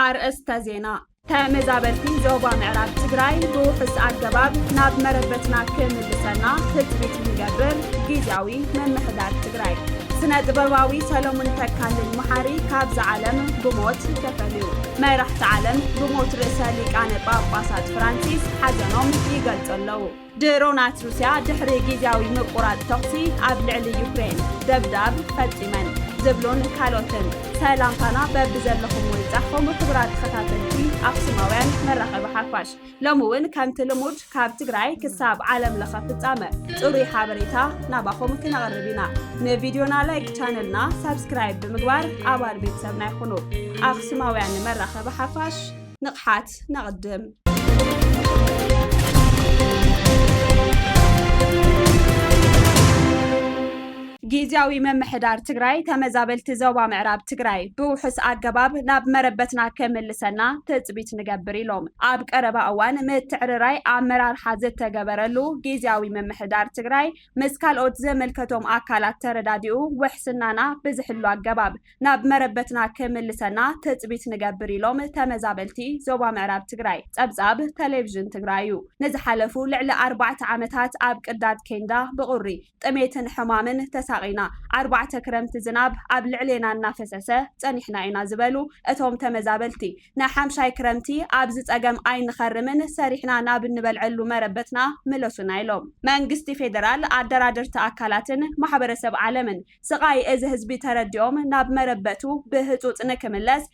ኣርእስተ ዜና ተመዛበልቲ ዞባ ምዕራብ ትግራይ ብውሑስ ኣገባብ ናብ መረበትና ክምልሰና ትፅቢት ንገብር ጊዜያዊ ምምሕዳር ትግራይ ስነ ጥበባዊ ሰለሙን ተካልኝ መሓሪ ካብዛ ዓለም ብሞት ተፈልዩ። መራሕቲ ዓለም ብሞት ርእሰ ሊቃነ ጳጳሳት ፍራንሲስ ሓዘኖም ይገልጹ ኣለዉ። ድሮናት ሩስያ ድሕሪ ግዝያዊ ምቁራጽ ተኹሲ ኣብ ልዕሊ ዩክሬን ደብዳብ ፈጺመን ዝብሉን ካልኦትን ሰላምታና በብዘለኹምዎ ይብጻሕኩም ክቡራት ተኸታተልቲ ኣኽሱማውያን መራኸቢ ሓፋሽ ሎሚ እውን ከምቲ ልሙድ ካብ ትግራይ ክሳብ ዓለም ለኸ ፍፃመ ፅሩይ ሓበሬታ ናባኹም ክነቕርብ ኢና። ንቪድዮና ላይክ ቻነልና ሳብስክራይብ ብምግባር ኣባል ቤተሰብና ይኹኑ። ኣኽሱማውያን ንመራኸቢ ሓፋሽ ንቕሓት ነቕድም! ጊዚያዊ ምምሕዳር ትግራይ ተመዛበልቲ ዞባ ምዕራብ ትግራይ ብውሑስ ኣገባብ ናብ መረበትና ከምልሰና ትፅቢት ንገብር ኢሎም። ኣብ ቀረባ እዋን ምትዕርራይ ኣመራርሓ ዝተገበረሉ ጊዚያዊ ምምሕዳር ትግራይ ምስ ካልኦት ዝምልከቶም ኣካላት ተረዳዲኡ ውሕስናና ብዝሕሉ ኣገባብ ናብ መረበትና ክምልሰና ትፅቢት ንገብር ኢሎም ተመዛበልቲ ዞባ ምዕራብ ትግራይ። ፀብፃብ ቴሌቭዥን ትግራይ እዩ። ንዝሓለፉ ልዕሊ ኣርባዕተ ዓመታት ኣብ ቅዳድ ኬንዳ ብቑሪ። ጥሜትን ሕማምን ተሳቒና፣ ኣርባዕተ ክረምቲ ዝናብ ኣብ ልዕሌና እናፈሰሰ ጸኒሕና ኢና ዝበሉ እቶም ተመዛበልቲ፣ ንሓምሻይ ክረምቲ ኣብዚ ጸገም ኣይንኸርምን፣ ሰሪሕና ናብ እንበልዐሉ መረበትና ምለሱና ኢሎም። መንግስቲ ፌደራል፣ ኣደራደርቲ ኣካላትን ማሕበረሰብ ዓለምን፣ ስቓይ እዚ ህዝቢ ተረዲኦም ናብ መረበቱ ብህጹጽ ንክምለስ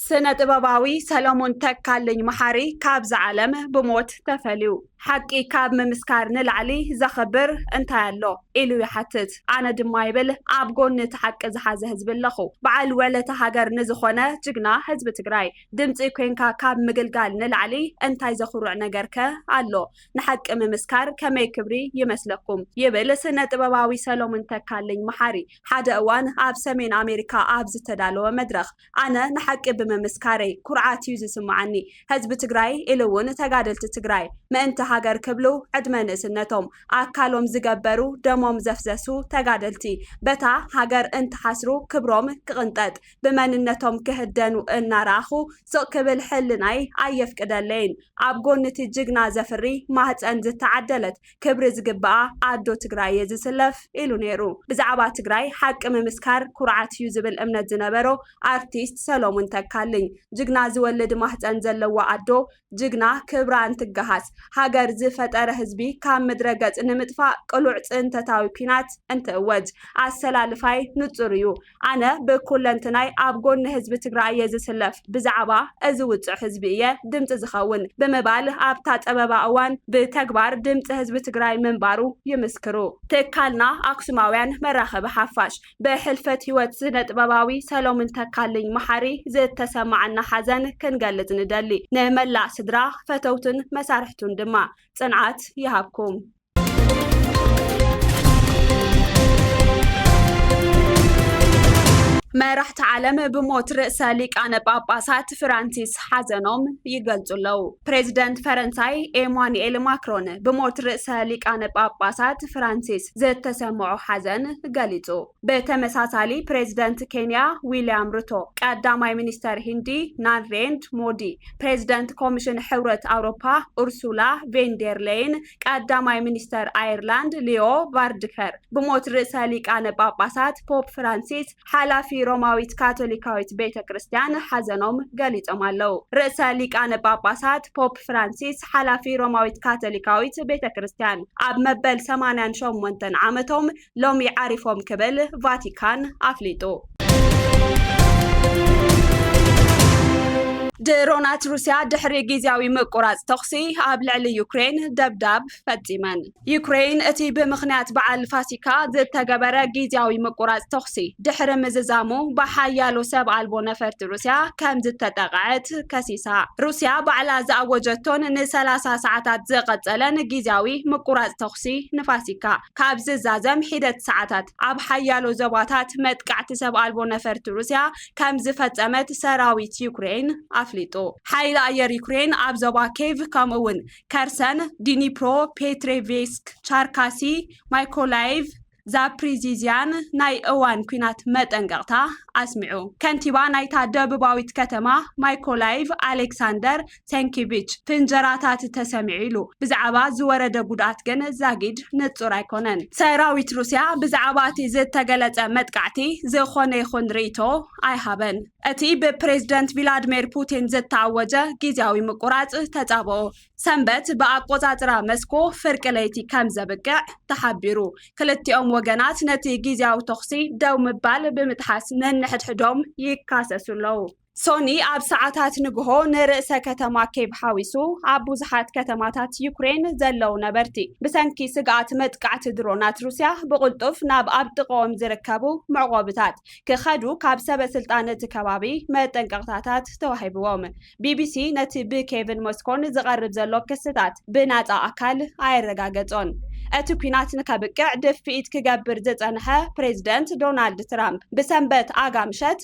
ስነ ጥበባዊ ሰለሙን ተካልኝ መሓሪ ካብዛ ዓለም ብሞት ተፈልዩ። ሓቂ ካብ ምምስካር ንላዕሊ ዘኽብር እንታይ ኣሎ ኢሉ ይሓትት። ኣነ ድማ ይብል ኣብ ጎኒ እቲ ሓቂ ዝሓዘ ህዝቢ ኣለኹ። በዓል ወለተ ሃገር ንዝኾነ ጅግና ህዝቢ ትግራይ ድምፂ ኮይንካ ካብ ምግልጋል ንላዕሊ እንታይ ዘኹርዕ ነገር ከ ኣሎ? ንሓቂ ምምስካር ከመይ ክብሪ ይመስለኩም? ይብል ስነ ጥበባዊ ሰለሙን ተካልኝ መሓሪ ሓደ እዋን ኣብ ሰሜን ኣሜሪካ ኣብ ዝተዳለወ መድረኽ። ኣነ ንሓቂ ብምምስካረይ ኩርዓት እዩ ዝስመዓኒ። ህዝቢ ትግራይ ኢሉ እውን ተጋደልቲ ትግራይ ምእንቲ ሃገር ክብሉ ዕድመ ንእስነቶም ኣካሎም ዝገበሩ ደሞም ዘፍዘሱ ተጋደልቲ በታ ሃገር እንትሓስሩ ክብሮም ክቕንጠጥ ብመንነቶም ክህደኑ እናረኣኹ ስቕ ክብል ሕልናይ ኣየፍቅደለይን። ኣብ ጎኒ እቲ ጅግና ዘፍሪ ማህፀን ዝተዓደለት ክብሪ ዝግበኣ ኣዶ ትግራይ እየ ዝስለፍ ኢሉ ነይሩ። ብዛዕባ ትግራይ ሓቂ ምምስካር ኩርዓት እዩ ዝብል እምነት ዝነበሮ ኣርቲስት ሰሎሙን ተካልኝ ጅግና ዝወልድ ማህፀን ዘለዋ ኣዶ ጅግና ክብራ እንትገሃስ ሃገር ዝፈጠረ ህዝቢ ካብ ምድረ ገፅ ንምጥፋእ ቅሉዕ ፅንተታዊ ኲናት እንትእወጅ ኣሰላልፋይ ንፁር እዩ ኣነ ብኩለንትናይ ኣብ ጎኒ ህዝቢ ትግራይ እየ ዝስለፍ፣ ብዛዕባ እዚ ውፁዕ ህዝቢ እየ ድምፂ ዝኸውን ብምባል ኣብታ ፀበባ እዋን ብተግባር ድምፂ ህዝቢ ትግራይ ምንባሩ ይምስክሩ። ትካልና ኣክሱማውያን መራኸቢ ሓፋሽ ብሕልፈት ህይወት ስነጥበባዊ ሰሎሙን ተካልኝ መሓሪ ዝተሰማዓና ሓዘን ክንገልፅ ንደሊ። ንመላእ ስድራ፣ ፈተውቱን መሳርሕቱን ድማ ፅንዓት ይሃብኩም። መራሕቲ ዓለም ብሞት ርእሰ ሊቃነ ጳጳሳት ፍራንሲስ ሓዘኖም ይገልጹ ኣለዉ። ፕሬዚደንት ፈረንሳይ ኤማኑኤል ማክሮን ብሞት ርእሰ ሊቃነ ጳጳሳት ፍራንሲስ ዝተሰምዖ ሓዘን ገሊጹ። ብተመሳሳሊ ፕሬዚደንት ኬንያ ዊልያም ሩቶ፣ ቀዳማይ ሚኒስተር ሂንዲ ናሬንድ ሞዲ፣ ፕሬዚደንት ኮሚሽን ሕብረት ኣውሮፓ ኡርሱላ ቬንዴር ሌይን ቀዳማይ ሚኒስተር ኣየርላንድ ሊዮ ቫርድከር ብሞት ርእሰ ሊቃነ ጳጳሳት ፖፕ ፍራንሲስ ሓላፊ ሮማዊት ካቶሊካዊት ቤተ ክርስቲያን ሓዘኖም ገሊጾም ኣለዉ። ርእሰ ሊቃነ ጳጳሳት ፖፕ ፍራንሲስ ሓላፊ ሮማዊት ካቶሊካዊት ቤተ ክርስቲያን ኣብ መበል ሰማንያን ሸሞንተን ዓመቶም ሎሚ ዓሪፎም ክብል ቫቲካን ኣፍሊጡ። ድሮናት ሩስያ ድሕሪ ግዝያዊ ምቁራጽ ተኹሲ ኣብ ልዕሊ ዩክሬን ደብዳብ ፈጺመን። ዩክሬን እቲ ብምኽንያት በዓል ፋሲካ ዝተገበረ ግዝያዊ ምቁራጽ ተኹሲ ድሕሪ ምዝዛሙ ብሓያሎ ሰብ ኣልቦ ነፈርቲ ሩስያ ከም ዝተጠቕዐት ከሲሳ። ሩስያ ባዕላ ዝኣወጀቶን ንሰላሳ ሰዓታት ዝቐጸለን ግዝያዊ ምቁራጽ ተኹሲ ንፋሲካ ካብ ዝዛዘም ሒደት ሰዓታት፣ ኣብ ሓያሎ ዞባታት መጥቃዕቲ ሰብ ኣልቦ ነፈርቲ ሩስያ ከም ዝፈጸመት ሰራዊት ዩክረይን ኣፍሊጡ። ሓይሊ ኣየር ዩክረይን ኣብ ዞባ ኬቭ ከምኡ'ውን ከርሰን፣ ዲኒፕሮ ፔትሬቭስክ፣ ቻርካሲ፣ ማይኮላይቭ፣ ዛፕሪዚዝያን ናይ እዋን ኲናት መጠንቀቕታ ኣስሚዑ። ከንቲባ ናይታ ደቡባዊት ከተማ ማይኮላይቭ ኣሌክሳንደር ሰንኪቪች ፍንጀራታት ተሰሚዑ ኢሉ። ብዛዕባ ዝወረደ ጉድኣት ግን ዛጊድ ንጹር ኣይኮነን። ሰራዊት ሩስያ ብዛዕባ እቲ ዝተገለጸ መጥቃዕቲ ዝኾነ ይኹን ርእይቶ ኣይሃበን። እቲ ብፕሬዝደንት ቪላድሚር ፑቲን ዝተኣወጀ ግዝያዊ ምቁራጽ ተጻብኦ፣ ሰንበት ብኣቆጻጽራ መስኮ ፍርቂ ለይቲ ከም ዘብቅዕ ተሓቢሩ። ክልቲኦም ወገናት ነቲ ግዝያዊ ተኹሲ ደው ምባል ብምጥሓስ ነንሕድሕዶም ይካሰሱ ኣለዉ። ሶኒ ኣብ ሰዓታት ንግሆ ንርእሰ ከተማ ኬቭ ሓዊሱ ኣብ ብዙሓት ከተማታት ዩክሬን ዘለዉ ነበርቲ ብሰንኪ ስግኣት መጥቃዕቲ ድሮናት ሩስያ ብቕልጡፍ ናብ ኣብ ጥቕኦም ዝርከቡ መዕቆብታት ክኸዱ ካብ ሰበ ስልጣን እቲ ከባቢ መጠንቀቕታታት ተዋሂብዎም። ቢቢሲ ነቲ ብኬቭን ሞስኮን ዝቐርብ ዘሎ ክስታት ብናጻ ኣካል ኣየረጋገጾን። እቲ ኲናት ንከብቅዕ ድፍኢት ክገብር ዝጸንሐ ፕሬዝደንት ዶናልድ ትራምፕ ብሰንበት ኣጋምሸት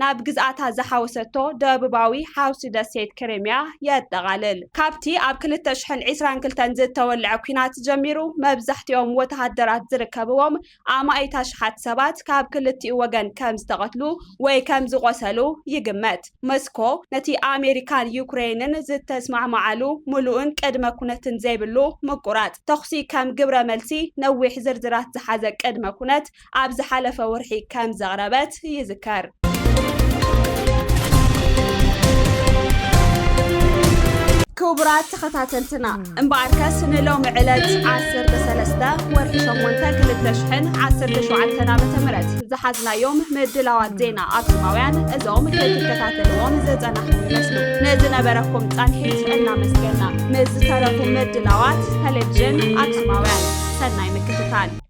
ናብ ግዝኣታ ዝሓወሰቶ ደቡባዊ ሓውሲ ደሴት ክሪሚያ የጠቓልል። ካብቲ ኣብ ክልተ ሽሕን ዒስራን ክልተን ዝተወልዐ ኲናት ጀሚሩ፣ መብዛሕትኦም ወተሃደራት ዝርከብዎም ኣማኢት ኣሽሓት ሰባት ካብ ክልቲኡ ወገን ከም ዝተቐትሉ ወይ ከም ዝቖሰሉ ይግመት። መስኮ፣ ነቲ ኣመሪካን ዩክረይንን ዝተስማዕምዓሉ ምሉእን ቅድመ-ኵነትን ዘይብሉ ምቍራጽ ተዅሲ ከም ግብረ-መልሲ፣ ነዊሕ ዝርዝራት ዝሓዘ ቅድመ-ኵነት ኣብ ዝሓለፈ ወርሒ ከም ዘቕረበት ይዝከር። ክቡራት ተኸታተልትና እምበኣርከስ ንሎሚ ዕለት ዓሰርተ ሰለስተ ወርሒ ሸሞንተ ክልተ ሽሕን ዓሰርተ ሸውዓተን ዓመተ ምህረት ዝሓዝናዮም ምድላዋት ዜና ኣክሱማውያን እዞም ክትከታተልዎም ዝጸናሕኩም ይመስሉ። ንዝነበረኩም ጻንሒት እናመስገና ምስ ዝተረፉ ምድላዋት ተሌቭዥን ኣክሱማውያን ሰናይ ምክትታል።